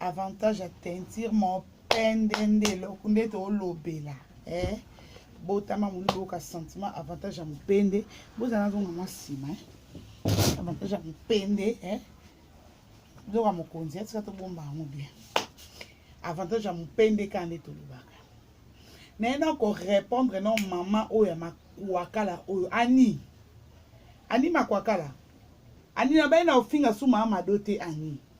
avantage ya teinture mopende nde eloko nde tolobela eh? botama moni boyoka sentiment avantage ya mopende bozala nazonga mwa nsima eh? avantage ya mopende eh? zoka mokonzi eh? tika tobomba yango bien avantage ya mopende kaka nde tolobaka naye na korépondre no mama oyo ya makuakala oyo ani ani makuakala ani nabai na ofinga suma amado te ani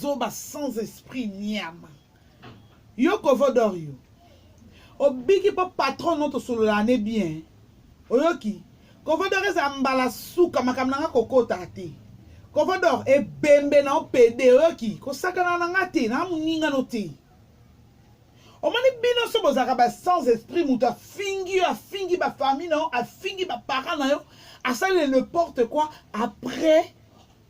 zoba sans esprit niama yo kovodor yo obiki mpo patron no tosololaka ne bien oyoki kovodor eza mbala suka makambo na nga kokotaka te kovodor ebembe na opede oyoki kosakana na nga te na moninga no te omoni bino so bozalaka ba sans esprit moto afingi yo afingi bafamille na yo afingi baparent na yo asali le porte quoi après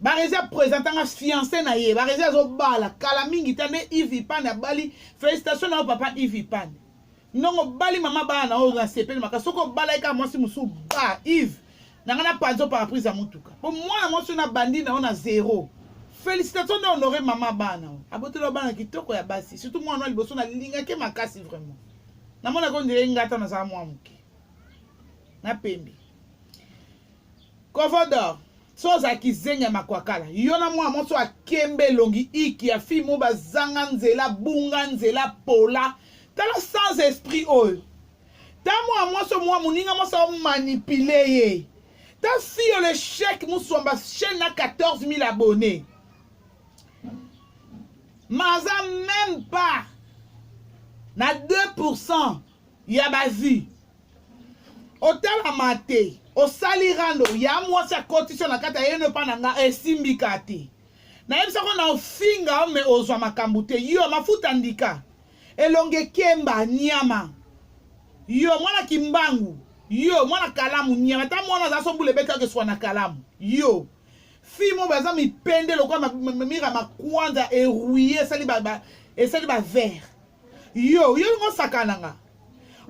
barezi apresentanga fiance na ye barezi azobala kala mingi ta nde ive ipane abali félicitation na yo papa ive ipane ndongo obali mama bana na oyo nasepeli maka soki obalaki kaka mwasi mosusu ba ive na ngai napanzi oparaprise ya motuka mpo mwana mwasi oyo nabandi na yo na zero félicitation nde honore mama bana oyo aboteli yo bana kitoko ya basi surtout mwana wana liboso nalingaki makasi vraiment namonaki ondire ngata nazala mwa moke na pembe Kovodo, so ozala kizengi ya makwakala, yo na mwana mwasi oyo akemba elongi iki ya fille moko bazanga nzela, abunga nzela, pola. Tala sans esprit oyo. Ta mwana mwasi oyo mwa moninga mwasi aomanipule ye. Ta fille oyo l'echec musomba chaîne na 14 000 abonnés. Mais aza même pas na 2% ya bazi otalama te osali rando ya mwasi akotisi yo na kati ayeno epa na nga esimbika te nayebisako na ofinga me ozwa makambo te yo mafuta ndika elonge kemba nyama yo mwana kimbangu yo mwana kalamu nyama ata mwana aza sombula ebetaki eswa na kalamu yo Fille mo baza mipende lokola mira makwanza erouille esali ba, ba esali ba vert. Yo yo ngo sakana nga.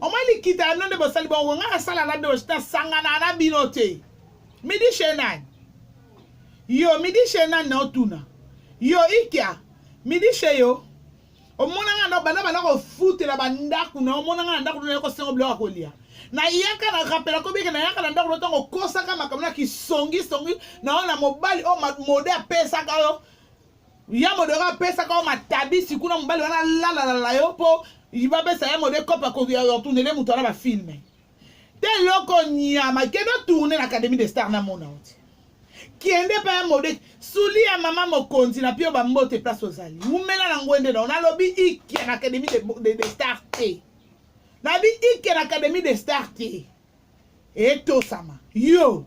Oma likita ya nonde bosali bongo nga asala na dosh ta sangana na bino te. Midi chez nani? Yo midi chez nani na otuna? Yo ikia midi chez yo omona nga ndako banda banda kofutela bandako na omona nga na ndako na kosengo biloko ya kolia nayaka na rapela kobike nayaka na ndako na ntango okosaka makambo na kisongisongi na oyo na mobali oyo mode apesaka yo ya mode oyo apesaka yo matabisi kuna mobali wana alalalala yo mpo bapesa ya mode kopa kotunele moto wana bafilme te eloko nyama kende otourne na académie de star na mona oti kende mpe ya mode suli ya mama mokonzi na mpe yo bambote place ozali wumela na ngwende nao nalobi ike na académie de, de, de star te nabi ike na académie de star te etosama yo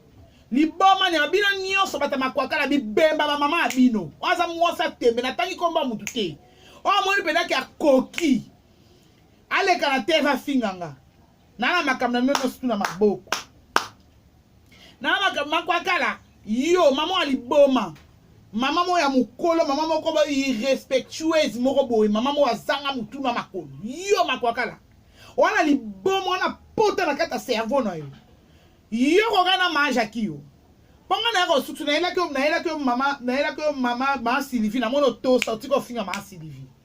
liboma nyama bino nyonso bata makwaka na bibemba bamama ya bino oyo aza mwasi atembe natangi nkombo ya motu te oyo amoni mpenza ke akoki aleka na terre afinga nga nana makambo na bino nyonso tuna maboko nana makambo makwakala yo mama ya liboma mama moko ya mokolo mama moko ba irrespectueuse moko boye mama moko azanga motu na makolo yo makwakala wana liboma wana pota na kati ya cerveau na yo yo koka na majaki yo mpo ngai nayaka osusu nayelaki yo nayelaki yo mama nayelaki yo mama maa sylvie namoni otosa otiki ofinga maa sylvie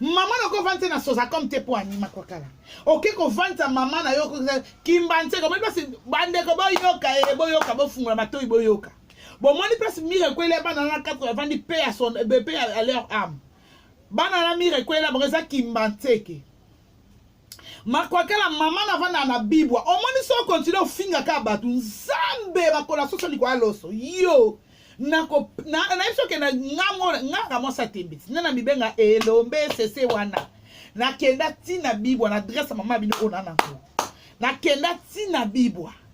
mama na ko vandisa na soza comme te po anima kwa kala oke ko vandisa mama na yo kimba nseko omoni place bandeko boyoka ye eh, boyoka bofungola matoi boyoka bomoni place mire ekweli ya bana na 4 avandi pe ya son eh, pe ya leur ame bana na mire ekweli ya bango eza kimba nseke makwakela mama na vanda na bibwa omoni so continue ofinga ka bato nzambe bakola soso likoya loso yo nayebi soki na nganga mwasi atembisi nde na mibenga elombe sese wana nakenda ntina bibwa na adresse mama bino oyo na nango nakenda ntina bibwa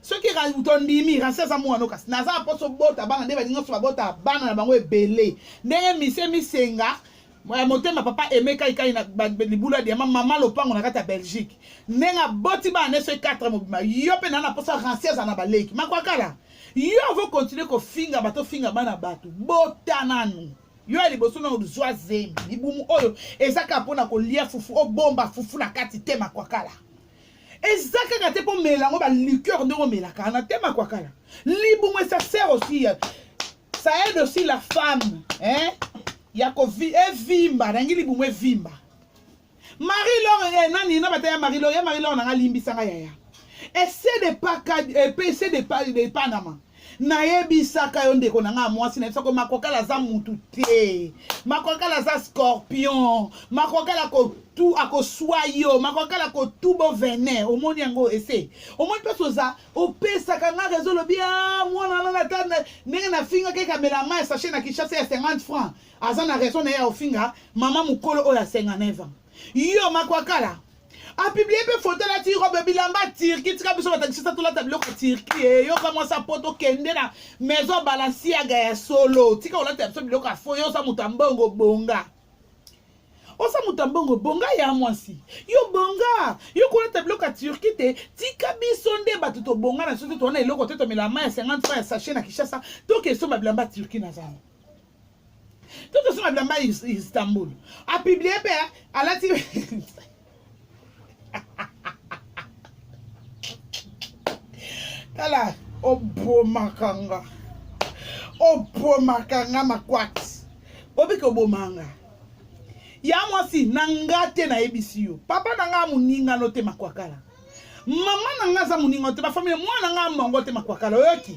soki tondimi rasi aza mwana kasi naza na mposo bota bana nde baninga nyonso babota bana na bango ebele ndenge mise misenga eh, motema papa emeka ikai na libulu ya diama mama lopango na kati ya belgique ndenge aboti bana nde soki 4 mobima yo mpe naa na mposo rasi aza na baleki makwakala yo avo continue kofinga bato ofinga bana bato bota nanu yo ya liboso na ozwa zemi libumu oyo ezaka mpo na kolia fufu obomba fufu na kati te makwakala eza kaka te mpo mela yango ba liqueur ndenge omelaka na tema kwa kala libumu esa sert aussi ça aide aussi la femme hein? ya kovi evimba nangi libumu evimba marie lor eh, nani na bataya marie lor ya marie lor nanga limbisa nga yaya ese de paka epe eh, ese de panama nayebisaka yo ndeko na ngai ya mwasi nayebisaka yo makokala aza mutu te makokala aza scorpion makokala kotu akoswa yo makokala kotu bo venin omoni yango ese omoni mpasi oza opesaka ngai rezo olobi a ah, mwana nana ata ndenge nafingaka ekamela mai sache na kinshasa ya 50 franc aza na raison na ye ya ofinga mama mokolo oyo ya 59 ans yo makwakala apiblie mpe foto alati robe bilamba ya turki tika biso batakisisa tolata biloko ya turki eyoka eh, mwasi ya poto kende na maison balasiaga ya solo tika olata ya biso biloko ya fo yo oza moto ya mbongo bonga oza moto ya mbongo bonga ya mwasi yo bonga yo kolata biloko ya turki te tika biso nde bato tobonga na biso te towana eloko te tomela mai ya 50 ya sachet na kinshasa tokesomba bilamba turki na zamba Tout ce madame Istanbul a publié pe alati tala obomaka nga obomaka nga makwati obiki oboma nga ya mwasi na nga te nayebisi yo papa na nga moninga no te makwakala mama na nga aza moninga no te bafamile mwana na nga mongo te makwakala oyoki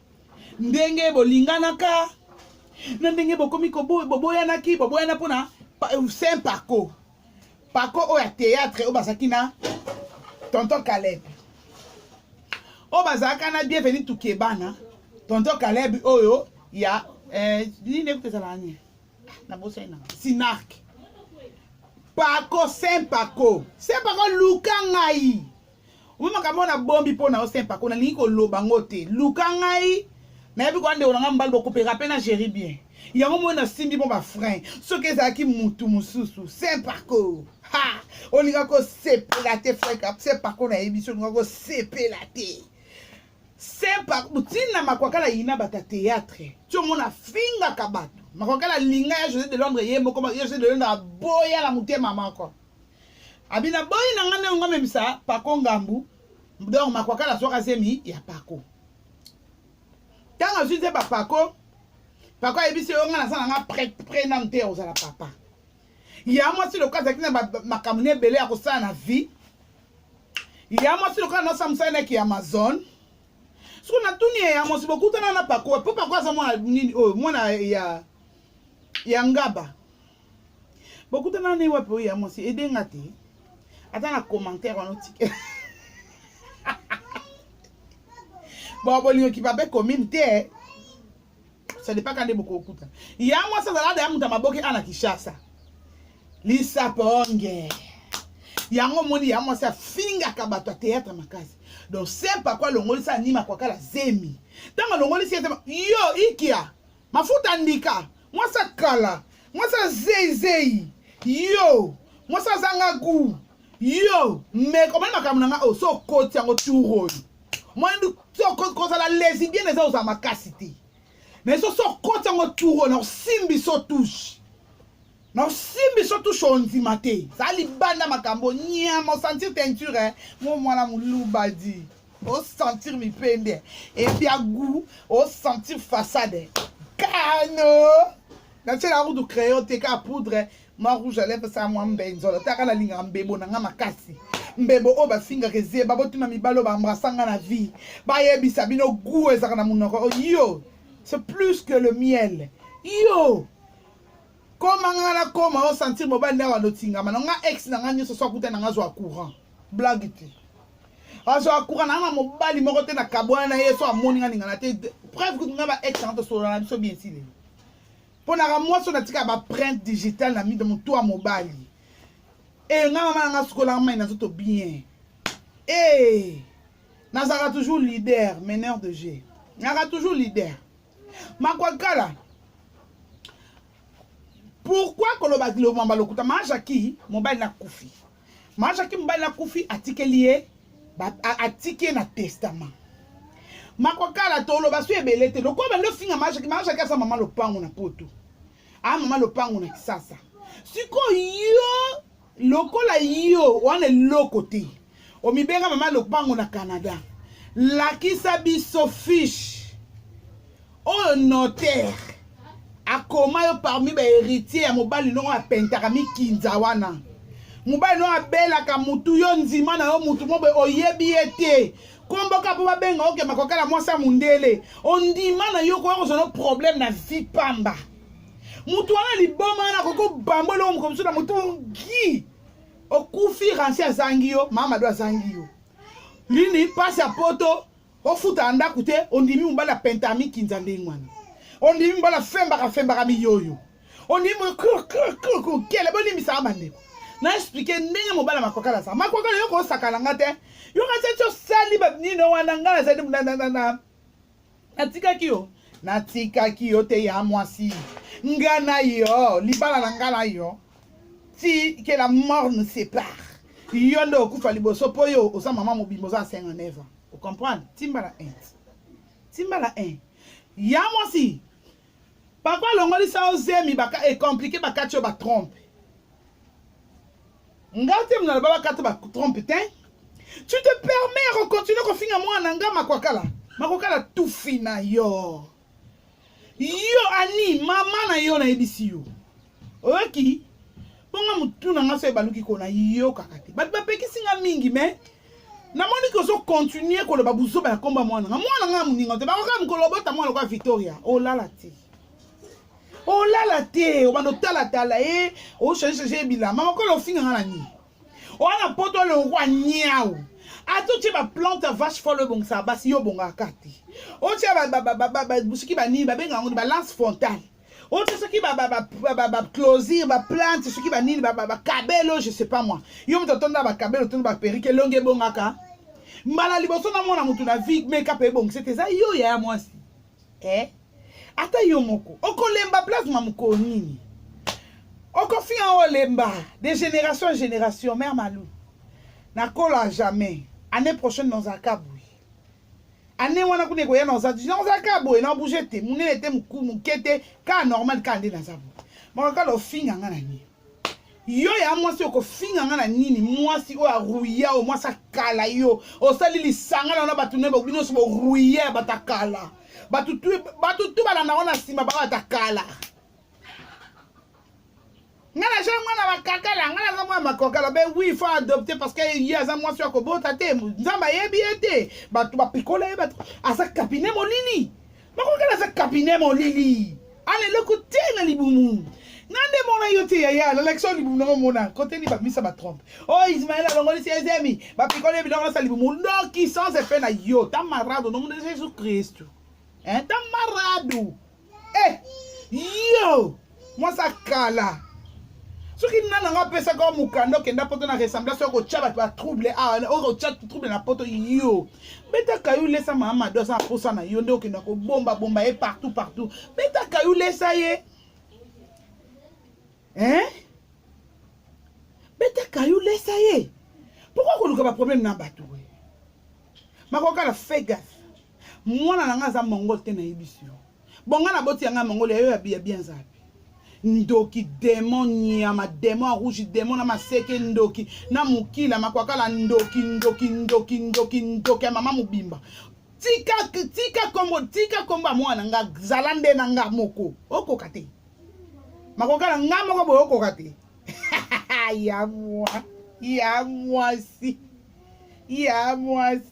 ndenge bolinganaka na ndenge bokomi boboyanaki boboyana mpo na euh, saint paco paco oyo ya théâtre oyo bazalaki na tonton caleb oyo bazalaka na bienveni tukebana tonton caleb oyo ya euh, nini ekuta ezalaka nini na bosai na sinarke pako saint pako saint pako luka ngai Omo makambo na bombi mpo na yo saint pako nalingi koloba ngo te luka ngai nayebi koya ndeko na ngai mobali bokopeka mpe na géri bien yango moi nasimbi mpo bafrein soki ezalaki mutu mosusu saint pako ha olinga kosepela te frek saint pako nayebi so olinga kosepela te saint pako ntina makwakala yina bato ya théâtre ti omona afingaka bato makwakala linga ya josé de londres ye moko ya josé de londres aboya na motema moko abina boyi na nga ndenge ngo amemisa pako ngambu donc makwakala azwaka zemi ya pako ntango azwi nze bapako pako ayebisi yo nga naza na nga pre pre nanu te ya kozala papa ya mwasi lokola azalaki na makambo na ebele ya kosala na vie ya mwasi lokola nosa mosali naki ya amazon soki natuni ye ya mwasi bokutana na pako po pako aza mwana nini oyo mwana ya ya ngaba bokutana ne wapi oyo ya mwasi ede nga te ata na commentaire wana otike bon bolingo kibabe commune te ça dépend kande bokokuta ya mwasi azala da ya moto ya maboke ana kishasa lisaponge yango omoni ya mwasi afingaka bato ya théâtre makasi donc sempa kwa alongolisa anima kwakala zemi ntango alongolisi ye yo ikia Mafuta ndika, mwasi ya kala, mwasi ya zeizei, yo mwasi azanga gu, yo meka omoni makambo na ngai oyo so okoti yango tour oyo omoni kozala lesibiene eza ozala makasi te mais so so okoti yango tour oyo na osimbi so touche Na osimbi so touche ondima te. Za libanda makambo nyama osentir teinture eh. Mo mwana muluba di. Osentir mipende. Ebia goût osentir façade. Kano. Na tse la route crayon te ka poudre. Mwa rouge à lèvres sa mwa mbenzolo. Taka na linga mbebo na nga makasi. mbebo oyo bafingaka ezeba botuna mibali oyo baambrasanga na vie bayebisa bino gu ezalaka na monoko yo c'est plus que le miel yo Koma nga na koma o sentir mobali na wando tingama na nga ex na nga nyoso so akuta na nga zwa courant. Blague te. Azwa courant na nga mobali moko te na kabwana na ye so amoni nga ningana te. Preuve kutu nga ba ex na to solo na biso bien sile. Pona ka moi so na tika ba print digital na mido mutu a mobali. Eh nga mama na nga sukola nga mai na zoto bien. Eh nazaka toujours leader, meneur de jeu. Naka toujours leader. makwakala pourkui koloba lomamba lokuta majaki mobali na kufi majaki mobali na kufi atikeli ye atiki ye na testament makwakala toloba so ebele te lokola bandi ofinga majaki majaki aza mama lopango na poto a mama lopango na kisasa sikoyo yo lokola yo wana eloko te omibenga mama lopango na canada lakisa biso fiche oyo notaire akoma yo parmi baheritier ya mobali nongo apentaka mikinza wana mobali nongo abelaka mutu yo nzima na yo mutu mobe oyebi ye te komboka mpo babenga okema kokala mwasi ya mondele ondima na yo koya kozwa no problème na vie pamba mutu wana liboma wana akoki obamba eloko moko mosusu na motu ngi okufi ransi azangi yo mamado azangi yo lini mpasi ya poto ofutaka ndako te ondimi mobali ya pentami kinza ndenge wana ondimi mobali afembaka fembaka miyoyo ondimi kele bolimbisaka bandeko na explike ndenge mobali ya makwakala azala makwakala yo kosakana nga te yo kasi ti osali banino wana ngai nazali natikaki yo natikaki yo te ya mwasi nga na yo libala na nga na yo ti que la mort ne sépare yo nde okufa liboso mpo yo oza mama mobimba oza asenga neva ocomprendre timbala un timbala un ya mwasi papa alongolisa yo zemi ekomplike bakati yo batrompe nga te mna baba kata ba trompe te tu te permets ya kocontinue kofinga mwana nga makwakala makwakala tufi na yo yo ani mama na yo nayebisi yo oyoki bonga motu na nga so ebaluki kona yokaka te bato bapekisi nga mingi me namoni ke ozokontinue koloba buzoba ya komba mwana nga mwana nga moninga te bakoka mokolo obota mwana lokola victoria olala te olala te obanda otalatala ye ochangechanger ye bilama okola ofinganga na nini oya na poto alongwa niau ata otye baplante ya vache fole ebongisaka basi yo obongaka te otya soki banini babenga yango balance frontale otya soki baclosir baplante soki banini bakabelo je sais pas moi yo moto otonda bakabelo otonda baperike elongi ebongaka mbala liboso namona moto na vie meka mpe ebongisa te eza yo yaya mwasi eh? ata yo moko okolemba plasma mokolo nini okofinga olemba de génération en génération mère malou nakola jamais année prochaine nazalaka boye année wana kuna ekoya naza nazalaka boye na bouge te monene te moke te kaka normal kaka nde naza boye makaka lofinga nga na nini yo ya mwasi oyo kofinga nga na nini mwasi oyo aruya oyo mwasi akala yo osali lisanga na yo na bato naye bino nyonso boruya ya bato akala bato tu balanda ngo na nsima ba bato akala nga naza mwana bakakala nga naza mwana makokala be wi fo adopte parce que ye aza mwasi ya kobota te nzambe ayebi ye te bato bapikola ye bato aza kabine molili Makoki naza cabinet molili. Ala eloko te na libumu. Nga nde mona yo te yaya lalakisa oyo libumu nango mona kote ni bamisa batrompe oyo oh, ismael alongolisi ezemi bapikoli biloko nasa libumu ndoki sans epe na yo ta marado nomona jesus kristu ta marado e eh, yo mwasi ya kala soki nani yango apesaki yo mokanda okenda poto na ressemblance oyo kotya bato batrouble awa ah, oyo kotya trouble na poto yo betaka yo lesa mama mado aza na mposa na yo nde okenda kobombabomba ye partout partout betaka yo lesa ye hein betaka yo lesa ye pourkoi koluka baproblème na bato we makokala fegas mwana na ngai aza mongol te nayebisi yo Bon nga na boti ya nga mongoli ya yo ya biya bien zapi. ndoki demo nyama demo ya rouge demo na maseke ndoki na mokila makwakala ndoki ndoki ndoki ndoki ndoki ya mama mobimba tika tika kombo tika kombo ya mwana nga zala nde na nga moko okoka te makwakala nga moko boye okoka te ya mwa ya mwasi ya mwasi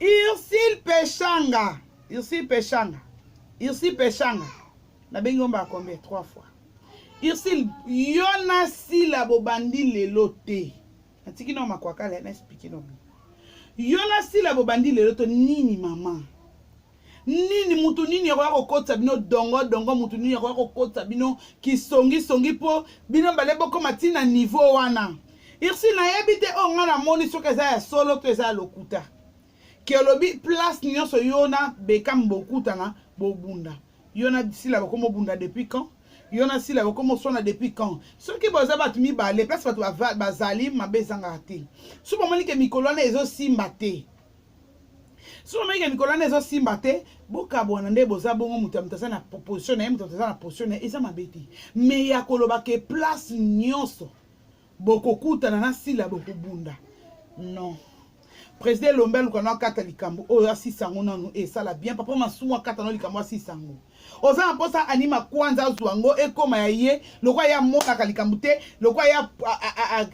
Ursule Peshanga. Ursule Peshanga. Ursule Peshanga. nabengi yo mbala combien trois fois ursule yo na sila bobandi lelo te natiki nao makwakala na explike nobi yo na sila bobandi lelo to nini mama nini mutu nini akoya kokotisa bino dongo dongo mutu nini akoya kokotisa bino kisongisongi mpo bino bale bokoma ti na niveau wana irsi nayebi te oyo ngai namoni soki eza ya solo to eza ya lokuta ke olobi place nyonso yo na bekam bokutana bobunda yo na sila bokomi obunda depuis quand yo na sila bokomi oswana depuis quand soki boza bato mibale place bato bazali mabe ezangaka te soki bomoni ke mikolo wana ezosimba te soki omeki ya mikolo wana ezosimba te bokabwana nde boza bongo moto ya moto aza na position na ye moto aza na position na ye eza mabe te me ya koloba ke place nyonso bokokutana na sila bokobunda non président elombe aluka no akata likambo oyo asisa yango nanu esala bien papa masumu akata no likambo asisa yango oza na mposa anima kwanza azwa yango ekóma ya ye lokola ye amonaka likambo te lokola ye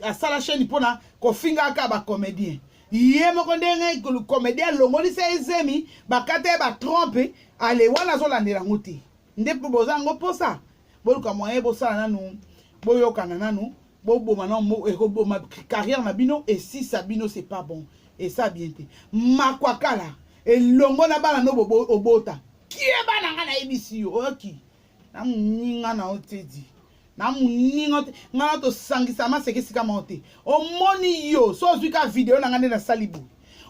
asala chaîne mpona kofingaka bacomédien ye moko ndenge komedi alongolisi ye zemi bakata ye batrompe ale wana azolandela yango te nde mpo boza yango mposa boluka moyen bosala nanu boyokana nanu boboma nano ekoboma carrière na bino esisa bino c'est pas bon esa bien te makwakala elongo na bana no obota kie bana nga nayebisi yo oyoki na moninga na yo tedi na moninga te ngai na tosangisa maseke esika moko te omoni yo so ozwi ka video na ngai nde nasali boye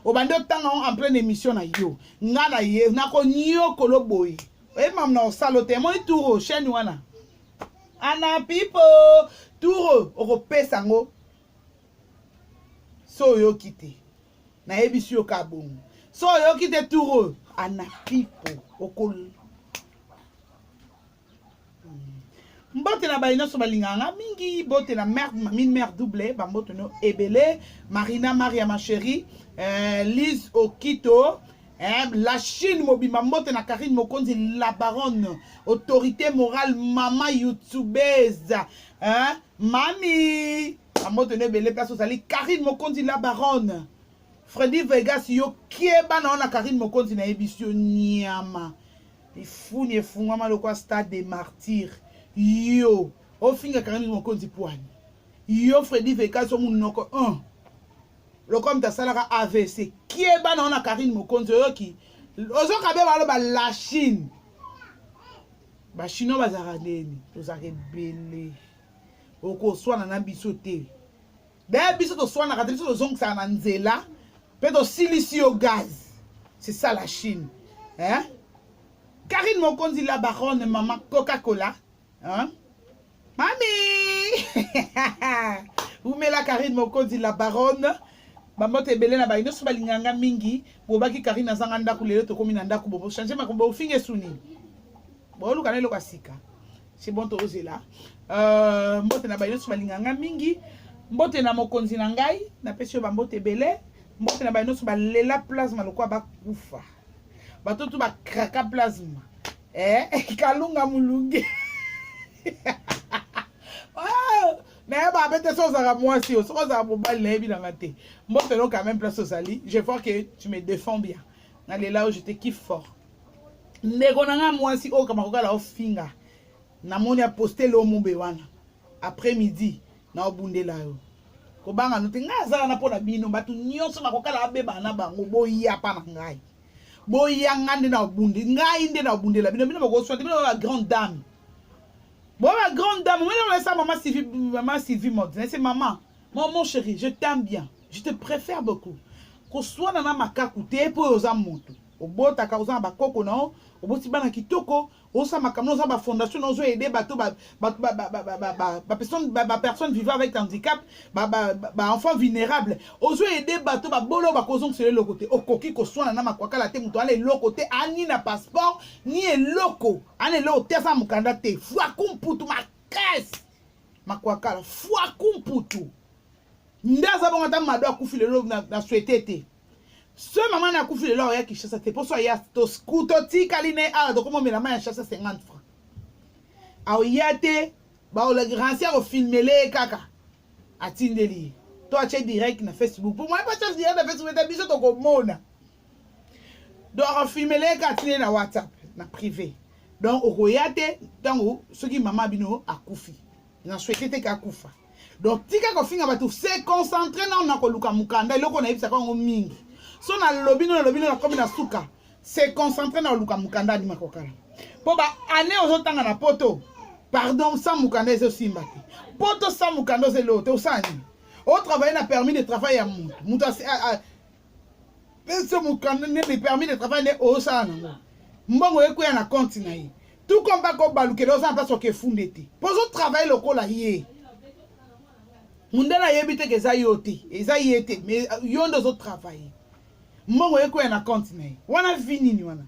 obandi otanga yango en pleine émission na yo ngai na ye nakonyokolo boye oyebi mamu na osala o te emoni turo chaine wana ana pipo turo okopesa yango so oyoki te nayebisi yo ka bongo so oyoki te tour oyo anapipo okol mbote na baye nyonso balingaka nga mingi bote na mère mamine mère double bambote no ebele marina maria ma chérie euh, lise okito eh, la chine mobimba mbote na karine mokonzi la baronne autorité morale mama youtubeuse eh, mami Ambote ne bele place ozali Karine Mokonzi la baronne. Freddy Vegas yo kieba na ona Karine Mokonzi na yebisi yo nyama. Ifuni efungwama lokwa stade des martyrs. Yo ofinga Karine Mokonzi pwani. Yo Freddy Vegas yo munoko 1. Lokwa mta salaka AVC. Kieba na ona Karine Mokonzi oyoki. Ozoka be baloba la Chine. Ba Chinois bazaka neni. Tozaka ebele. okoswana na biso te daya biso toswanaka te biso tozongisaka na nzela mpe tosilisi yo gaz c'est ça la chine hein? karine mokonzi la baronne mama coca cola hein? mami umela karine mokonzi la baronne bambote ebele na bayi nyonso balinganga mingi bobaki karine azanga ndako lelo tokomi na ndako bobo change makombo ofinga esuni boluka na eloko ya sika c'est bon tozela euh, mbote na baye nyonso balinga ngai mingi mbote na mokonzi na ngai napesi yo bambote ebele mbote na baye nyonso balela plasma lokola bakufa bato tu bakraka plasma eh, kalunga molunge nayeba abe te so ozalaka mwasi yo soki ozalaka mobali nayebi nanga te mbotelo quand même place ozali je vois que tu me défends bien nalela oyo je te kiffe fort ndeko na ngai mwasi oyo kama kokala ofinga namoni aposte leo mumbe wana après midi na obundela yo kobanga no te ngai azala na mpo na bino bato nyonso bakokala abebana na bango boyapa na ngai boya ngai nde na obundi ngai nde na obundela bino bino bakoswa te bino ba grande dame bo ba grande dame omoni olesa mama sylvie mama sylvie mode nase mama mon mon chéri je t'aime bien je te préfère beaucoup koswana na makaku te mpo oyo oza moto obotaka oza na bakoko na yo oboti bana kitoko osala makambo oza bafondation ozo aide bato bapersonne vivant avec handicap baenfant vulnérable ozo aide bato babolo bakozongisela eloko te okoki koswana na makwakala te moto ana eloko te ani na passeport ni eloko ana eloko te aza mokanda te fwaku mputu makasi makwakala fwaku mputu nde aza bongo ata mado akufi lelo na swete te so mama na akufi lelo aoya kinshasa te mposo aya totikali na ye awa tokomomela mai ya shasa 50 franc aoya te baolegrance akofilmele ye kaka atindeli ye to atye direct na facebook mpo moye patye direct na facebook ete biso tokomona donc akofilmele ye kaka atindeli na whatsapp na privé donc okoya te ntango soki mama bino akufi na souhaite te kakufa donc tika kofinga bato se concentre nao na koluka mokanda eloko nayebisaka yango mingi so nalobi no nalobi no nakomi na suka se concentre na koluka mokanda adima kokala mpo baannée ozotanga na poto pardon sa mokanda ezosimba te poto sa mokanda ozeloo te osala nini otravaille na permis de travail ya moto moto pese mokanda nini permis de travail nde osala nango mbongo ekweya na konti na ye tout comme bakobalukela oza na mpasi okefunde te mpo ozotravaille lokola ye mundele ayebi te ke eza yo te eza ye te mais yo nde ozotravaille mbongo ekweya na konti na ye wana vi nini wana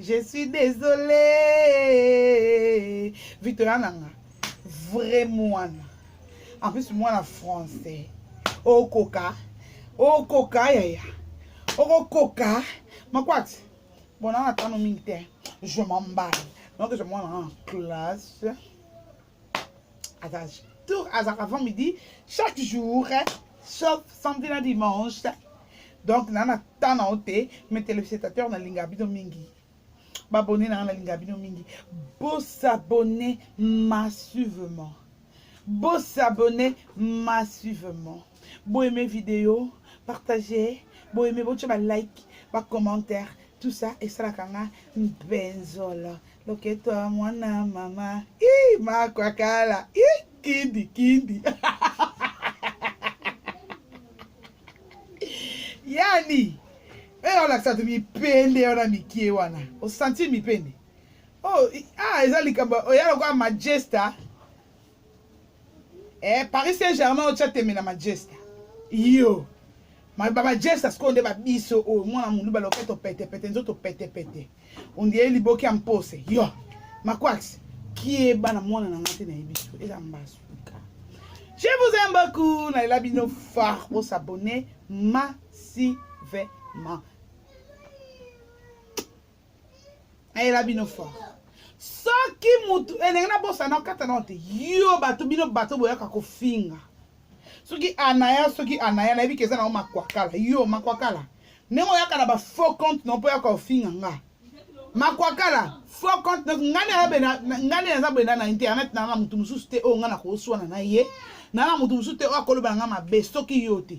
je suis désolé victoria nanga vrai mwana en plus mwana français okoka okoka yaya okokoka makwati bona na tano mingi te je m'emballe donc je mwana en classe Attends, tout avant midi, chaque jour, sauf samedi na dimanche. Donc, na na temps na ote, mes téléspectateurs na linga bino mingi. Babonné na na linga bino mingi. Bo s'abonner massivement. Bo s'abonner massivement. Bo aimer vidéo, partager, bo aimer bo ba like, ba commentaire, tout ça et ça la kanga benzol. Loketo ya mwana mama. Ii makwakala. Ii kindi kindi. yani eyo olakisa to mipende wana mikie wana osanti mipende oh, ah, eza likambo oya lokola majesta eh, paris saint germain otya tembe na majesta yo maloba bajesta sikoyo nde babiso oyo mwana moluba loketo petepete nzoto petepete ondie liboki ya mpose yo makwaks kieba na mwana na nga te nayebi so eza mbasu je vous aime beaucoup nalela bino fort bosabone massivement ayela bino fort soki mutu elenge na bosa na okata nao te yo bato bino bato boyaka kofinga soki anaya soki anaya nayebi ke eza nango makwakala yo makwakala ndenge oyaka na bafaux compte no mpo yaka ofinga nga makwakala faux compte no ngai nde naza benda na internet naa na motu mosusu te oyo ngai nakoswana na ye naa na motu mosusu te oyo akoloba na ngai mabe soki yo te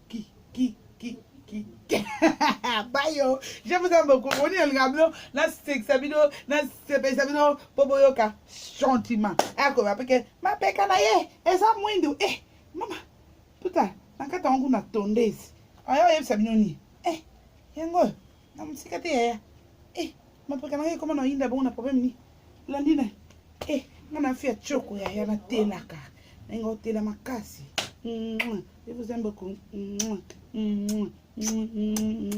Ki, ki, ki, ki. Bayo, je vous aime beaucoup. On est en bino, na sekisa bino, na sepesa bino, po boyoka gentiment. Ako ba peke, ma peka na ye, eza mwindu. Eh, mama, puta, nakata wangu na tondezi. Ayo yebisa bino ni. Eh, yango. na mosika te yaya eh mapeka nanga ekoma na yinda bongo na problème ni landi na eh nga na fi ya choko yaya na telaka na nga otela makasi je vous aime beaucoup